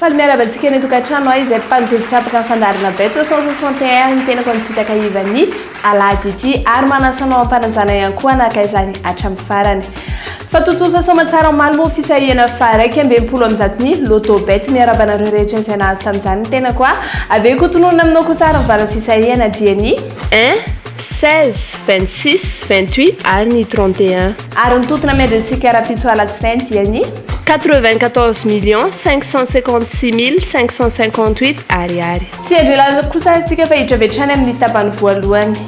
Faly miarahaba antsika any an-tokantrano ahy izay mpanjono tsy afaka ny fandaharana bet 361 ny tenako amin'ny fitaka ivan'ny alahady ity ary manasana ao am-pananjana ihany koa anaka izany hatramin'ny farany. Fa tontosa soamantsara ho malmô fisahihana faha iraika amby enimpolo amby zato ny Lotto Bet miarahaba anareo rehetra izay nahazo tamin'izany ny tenako a avy eo koa tononina aminao kosa ary mivaly ny fisahihana dia ny un, seize, vingt six, vingt huit ary ny trente et un. Ary ny tontona miandry antsika rahampitso alatsinainy dia ny. Quatre vingt quatorze millions cinq cent cinquante six mille cinq cent cinquante huit ariary. Tsy hiandry ela kosa atsika fa hiditra avy hatrany amin'ny tapany voalohany.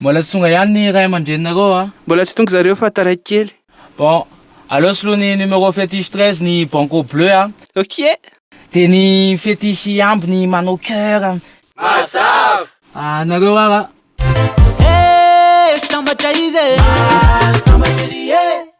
Mbola tsy tonga ihany ny ray aman-dreninareo a! Mbola tsy tonga zareo fa taraiky kely. Bon, aleo soloy ny numéro fétiche treize ny banco bleu a! Ok! Dia ny fétiche hihambo ny manao cœur a! Mazava! Anareo ara! Hey! Sambatra izy e! Maha sambatra ery e!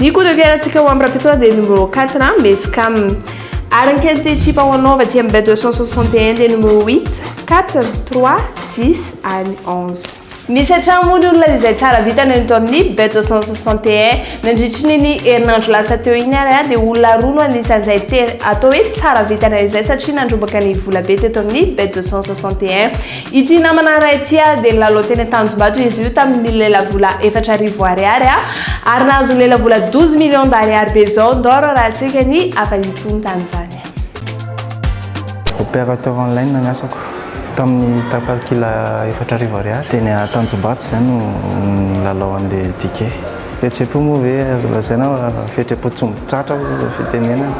Ny coup de fiarantsika ho amin'ny Rapitsoa dia numéro 4 na Mescam. Ary ny kely ity tipa ho anao avy aty amin'ny Bay 261 dia numéro 8, 4, 3, 10 ary 11. Misy hatrany moa ny olona izay tsara vita nony tao amin'ny Bay 261. Nandritry ny ny herinandro lasa teo iny ary dia olona roa no anisan'izay tena atao hoe tsara vitana izay satria nandrombaka ny volabe teto amin'ny Bay 261. Ity namana iray ity dia nilalao teny Tanjombato izy io tamin'ny lelavola efatra arivo ariary ary nahazo ny lelavola douze millions d'ariary be izao Ndoro raha tsy eka ny hafa itony tamin'izany. Opérateur en ligne ny asako. Tamin'ny tapany kila efatra arivo ariary. Teny Tanjombato izay no nilalao an'ilay ticket. Fihetseham-po moa ve azo lazaina fa fihetseham-po tsy mitratra hoy izao izao fitenenana.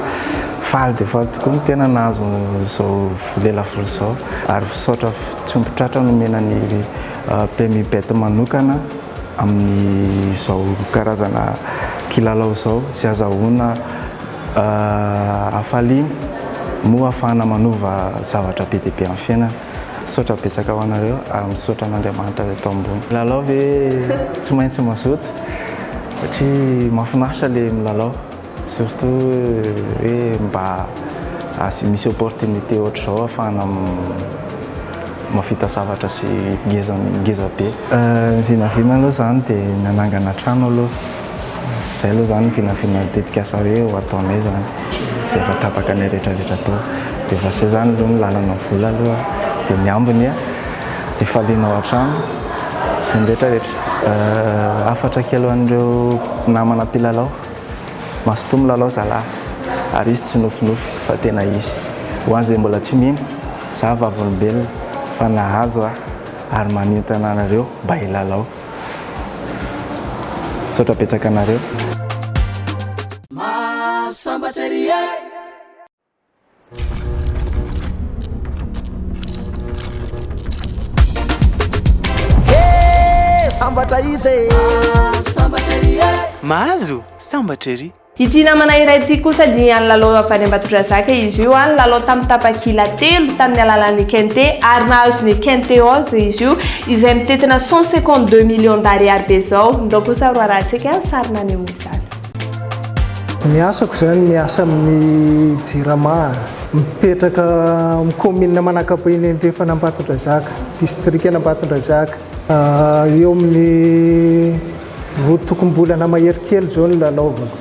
Faly dia faly tokoa ny tena nahazo izao vola izao. Lelafolo zao ary fisaotra tsy omby tratra nomena ny Bmibet manokana amin'ny zao karazana kilalao zao sy azahoana hafaliana moa hafahana manova zavatra be dia be amin'ny fiainana. Misaotra betsaka ho anareo ary misaotra an'Andriamanitra izay tao ambony. Lalao ve tsy maintsy mazoto satria mahafinaritra le milalao. Surtout hoe mba asy misy opportunité ohatr'izao afahana mahavita zavatra sy ngeza ngeza be. Ny vinavina aloha zany de ny hanangana trano aloha, zay aloha zany vinavina tetikasa hoe ho ataonay zany, zay efa tapaka anay retraretra atao, de efa zay zany aloha ny lalana vola aloha de ny ambiny a de falianao hatrany sy ny retraretra. Hafatra kely ho an'ireo namana mpilalao. Mazotoa milalao zalah ary izy tsy nofinofy fa tena izy. Ho an'izay mbola tsy mino, za vavolombelona fa nahazo aho ary manintona anareo mba hilalao. Misaotra betsaka anareo. Maha sambatra ery eh. sambatra izy e sambatra ery e mahazo sambatra ery Ity namana iray ity kosa dia any lalao avy any Ambatondrazaka izy io any lalao tamin'ny tapakila telo tamin'ny alalan'ny Kente ary nahazo ny Kente Oz izy io izay mitentina 152 millions d'ariary be izao. Ndao kosa roa raha antsika ny sary naneho izany. Ny asako zany miasa amin'ny jirama a. Mipetraka amin'ny kaominina Manakabe eny andrefan' Ambatondrazaka, distrikan' Ambatondrazaka. Eo amin'ny roa tokom-bolana mahery kely izao no nanaovako.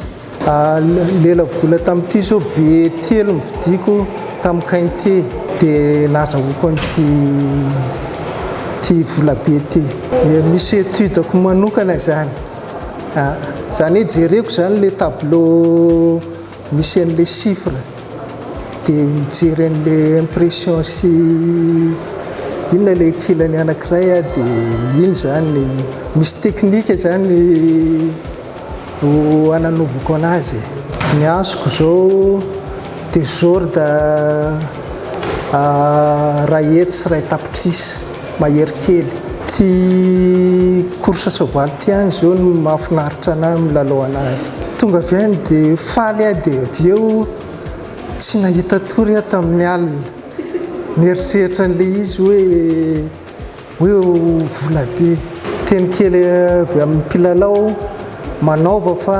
Lela vola tamin'ity izao be telo novidiako tamin'ny kainte dia nazahoako an'ity ity volabe ity. Misy étude-ko manokana izany. Za ne jereko zany le tableau misy an'le chiffre de mijery an'le impression sy inona le kilany anakiray ah de iny zany misy teknika zany ho ananovako anazy e. Ny azoko zao desordre ray hetsy sy ray tapitrisa. mahery kely. Tsy course soavaly ty any zao no mahafinaritra anah milalao anazy. Tonga avy any de faly aho de avy eo tsy nahita tory aho tamin'ny alina. Nieritreritra an'ilay izy hoe hoe ho volabe. Teny kely avy amin'ny mpilalao aho, manaova fa.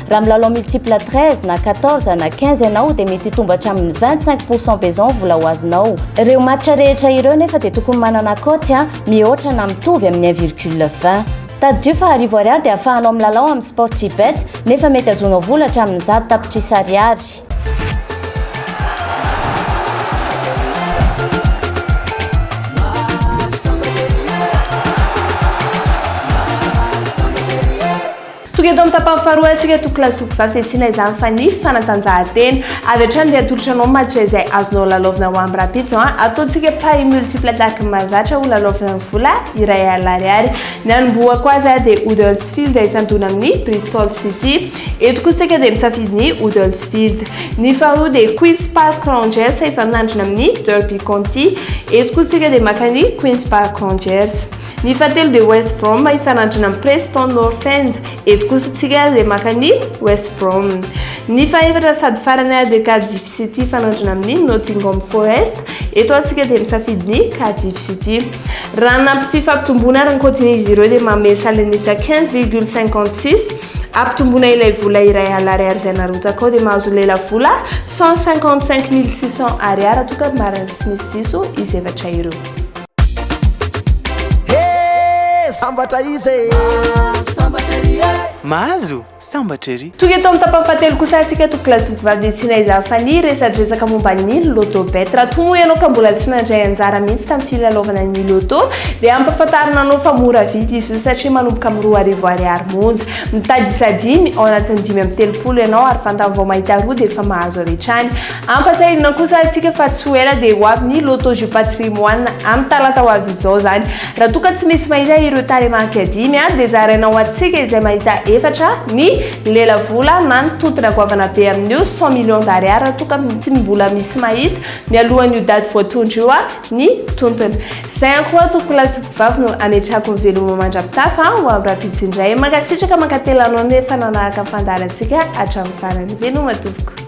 Raha milalao multiple 13 na 14 na 15 ianao dia mety hitombo hatramin'ny 25 pourcent be izao ny vola ho azonao. Ireo match rehetra ireo nefa dia tokony manana cote mihoatra na mitovy amin'ny 1 virgule 20. Tadidio fa arivo ariary dia ahafahanao milalao amin'ny Sportybet nefa mety azonao vola hatramin'ny zato tapitrisa ariary. Tonga eto amin'ny tapany faharoa isika Toky Lasopy Vavy dia tsy inona izany fa ny fanatanjahantena. Avy hatrany dia atolotra anao match izay azonao lalaovina ho amin'ny rahampitso an! Ataontsika paris multiple attaque mahazatra ho lalaovina amin'ny vola iray alina ariary. Ny hanombohako azy dia Huddersfield hifandona amin'ny Bristol City. Eto kosa isika dia misafidy ny Huddersfield. Ny faharoa dia Queens Park Rangers hifanandrina amin'ny Derby County. Eto kosa isika dia maka ny Queens Park Rangers. Ny fahatelo dia West Brom hifanandrina amin'i Preston North End. Eto kosa isika dia maka ny West Brom. Ny fahefatra sady farany ary dia Cardiff City hifanandrina amin'ny Nottingham Forest. Eto ary isika dia misafidy ny Cardiff City. Raha ny ampy fifampitomboana ary ny kaotin'izy ireo dia manome salenisa quinze virgule cinquante six. Ampitomboina ilay vola iray alina ariary izay narotsaka ao dia mahazo lelavola cent cinquante cinq mille six cents ariary toa ka marina tsy misy diso izy efatra ireo. Sambatra izy e! Sambatra ery e! Mahazo? Sambatra ery! Tonga eto amin'ny tapany fahatelo kosa antsika eto Classe Foot Vavy dia tsy naizan'ny Fani resadresaka momba ny Loto Bet. Raha toa moa ianao ka mbola tsy nandray anjara mihitsy tamin'ny filalaovana ny Loto dia ampahafantarina anao fa mora vidy izy io satria manomboka amin'ny roa arivo ariary monja. Mitady isa dimy ao anatin'ny dimy amby telopolo ianao ary vantany vao mahita roa dia efa mahazo avy hatrany. Ampatsiahivina kosa antsika fa tsy ho ela dia ho avy ny Loto Jeux Patrimoine amin'ny talata ho avy izao izany. Raha toa ka tsy misy mahita ireo tarehimarika dimy dia zaraina ho antsika izay mahita efatra ny lelavola manintotona goavana be amin'io cent millions d'ariary raha toa ka tsy mbola misy mahita mialohan'io daty voatondro io ny tontony. Izay ihany koa tompoko lahy sy mpivavy no ametrahako ny veloma mandra-pitafa ho amin'ny rahampitso indray. Mankasitraka mankatelina anao nefa nanaraka ny fandaharantsika hatramin'ny farany. Veloma tompoko.